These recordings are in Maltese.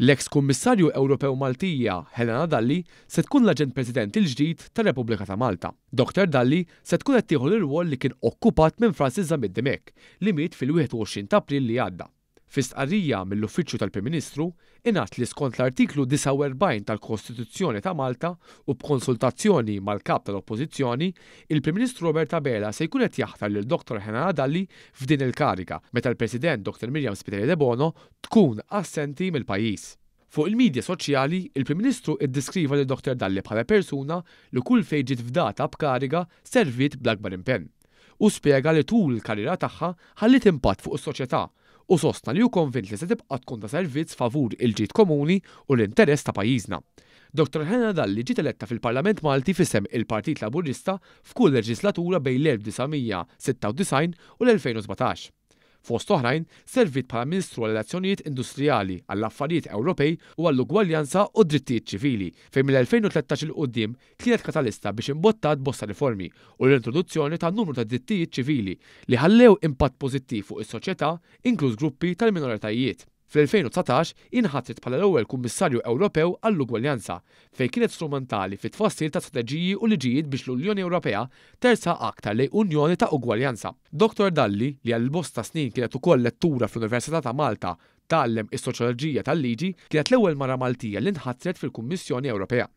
L-eks Kummissarju Ewropew Maltija, Helena Dalli, se tkun l-Aġent President il-ġdid tar-Repubblika ta' Malta. Doktor Dalli se tkun qed tieħu l-irwol li kien okkupat minn Francis Zammit Dimech, li miet fil-21 ta' April li għadda. Fi stqarrija mill-Uffiċċju tal-Prim Ministru, ingħad li skont l-Artiklu 49 tal-Kostituzzjoni ta' Malta u b'konsultazzjoni mal-Kap tal-Oppożizzjoni, il-Prim Ministru Robert Abela se jkun qed jaħtar lil Doktor Helena Dalli f'din il-kariga, meta l-President Doktor Miriam Spiteri Debono tkun assenti mill-pajjiż. Fuq il-midja soċjali, il-Prim Ministru ddeskriva lil Dr Dalli bħala persuna li kull fejn ġiet fdata b'kariga serviet bl-akbar impenn. Hu spjega li tul il-karriera tagħha ħalliet impatt fuq is-soċjetà u sostna li hu konvint li se tibqa' tkun ta' servizz favur il-ġid komuni u l-interess ta' pajjiżna. Dr Helena Dalli ġiet eletta fil-Parlament Malti f'isem il-Partit Laburista f'kull leġislatura bejn l-1996 u l-2017. Fost oħrajn, serviet bħala Ministru għall-Relazzjonijiet Industrijali, għall-Affarijiet Ewropej u għall-Ugwaljanza u d-Drittijiet Ċivili, fejn mill-2013 'il quddiem kienet katalista biex imbottat bosta riformi u l-introduzzjoni ta' numru ta' drittijiet ċivili li ħallew impatt pożittiv fuq is-soċjetà, inkluż gruppi tal-minoritajiet. Fl-2019 hi nħatret bħala l-ewwel Kummissarju Ewropew għall-Ugwaljanza, fejn kienet strumentali fit-tfassil ta' strateġiji u liġijiet biex l-Unjoni Ewropea tersaq aktar lejn Unjoni ta' ugwaljanza. Dottor Dalli, li għal bosta snin kienet ukoll lettura fl-Università ta' Malta, tgħallem is-Soċjoloġija tal-Liġi, kienet l-ewwel mara Maltija li nħatret fil-Kummissjoni Ewropea.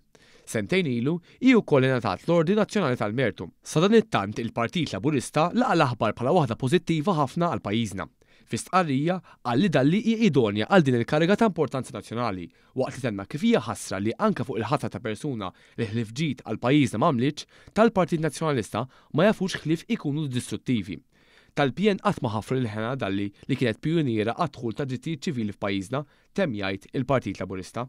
Sentejn ilu, hi wkoll ingħatat l-Ordni Nazzjonali tal-Mertu. Sadanittant il-Partit Laburista laqa' l-aħbar bħala waħda pożittiva ħafna għal pajjiżna. Fi stqarrija, qal li Dalli hi idonja għal din il-kariga ta' importanza nazzjonali, waqt li tenna kif hija ħasra li anke fuq il-ħatra ta' persuna li ħlief ġid għal pajjiżna m'għamlitx, tal-Partit Nazzjonalista ma jafux ħlief ikunu distruttivi. Tal-PN qatt ma ħaffru lil Hannah Dalli li kienet pijuniera għad-dħul tad-drittijiet ċivili f'pajjiżna, temm jgħid il-Partit Laburista.